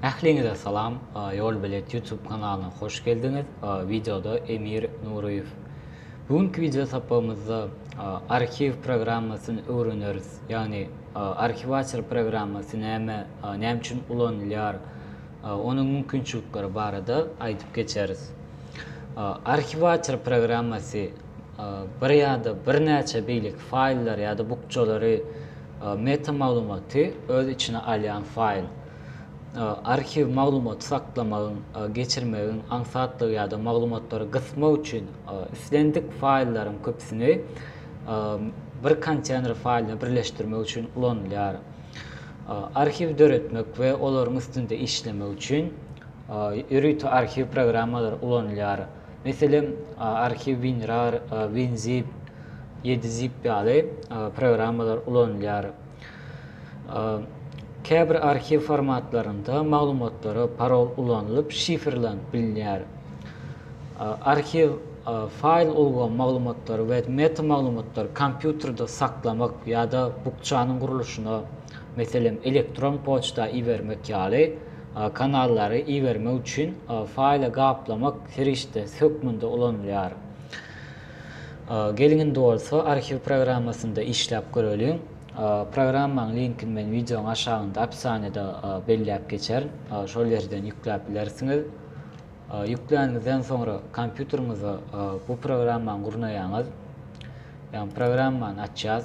Ähliňize salam, Ýolbelet YouTube kanalyna hoş geldiňiz. Wideoda Emir Nuryýew. Bu günki wideo sapagymyzda arhiw programmasyny öwreneris. Ýagny arhiwator programmasy näme, näme üçin ulanylýar, onuň mümkinçilikleri barada aýdyp geçeris. Arhiwator programmasy bir ýa-da birnäçe beýleki faýllar ýa-da bukjalary meta maglumaty öz içine alýan faýl. Arhiw maglumaty saklamagyň, geçirmegiň, aňsatlygy ýa-da maglumatlary gysmak üçin islendik faýllaryň köpüsini bir konteýner faýlyna birleşdirmek üçin ulanylýar. Arhiw döretmek we olaryň üstünde işlemek üçin ýörite arhiw programmalary ulanylýar. Meselem, arhiw WinRAR, WinZip, YediZip ýaly programmalar ulanylýar. Käbir arhiw formatlarynda maglumatlara parol ulanylyp şifrlanyp bilinýär. Arhiw faýl ulgam maglumatlary we metamaglumatlary kompýuterde saklamak ýa-da bukjanyň gurluşyna, meselem, elektron poçta ibermek ýaly kanallary ibermek üçin faýly gaplamak serişdesi hökmünde ulanylýar. Geliň indi bolsa arhiw programmasynda işläp göreliň. Programmaň linkini men wideoň aşagynda opisaniýada belläp geçerin. Şol ýerden ýükläp bilersiňiz. Ýükläniňizden soňra kompýuteriňize bu programmany gurnaýaňyz. Ýagny programmany açýas.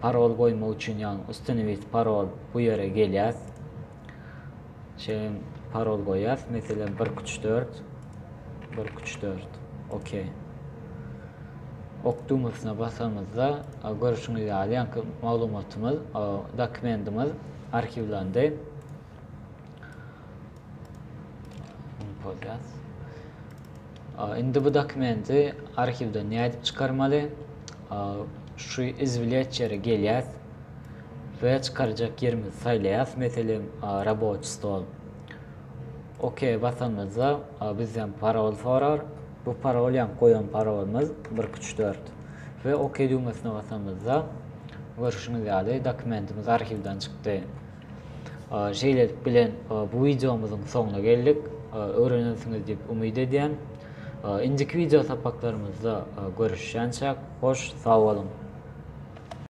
Parol goýmak üçin ýagny ustanowit parol bu ýere gelýäs. Şeýle parol goýýas. Meselem 1-2-3-4. 1-2-3-4. OK. Ok düwmesine basamyzda görüşiňiz ýaly ýaňky maglumatymyz, dokumentimiz arhiwlendi. Indi bu dokumenti arhiwden nädip çykarmaly? Şu izwilýat ýere gelýär we çykarjak ýerimizi saýlaýas. Meselem, raboçi stol. OK basanymyzda bizden parol sorar. Bu parol ýa goýan parolymyz 1-2-3-4. We OK düwmesine basanymyzda görşüňiz ýaly dokumentimiz arhiwden çykdy. Şeýlelik bilen bu wideomyzyň soňuna geldik. Öwrenensiňiz diýip umyt edýän. Indiki wideo sapaklarymyzda görüşýänçäk hoş sag boluň.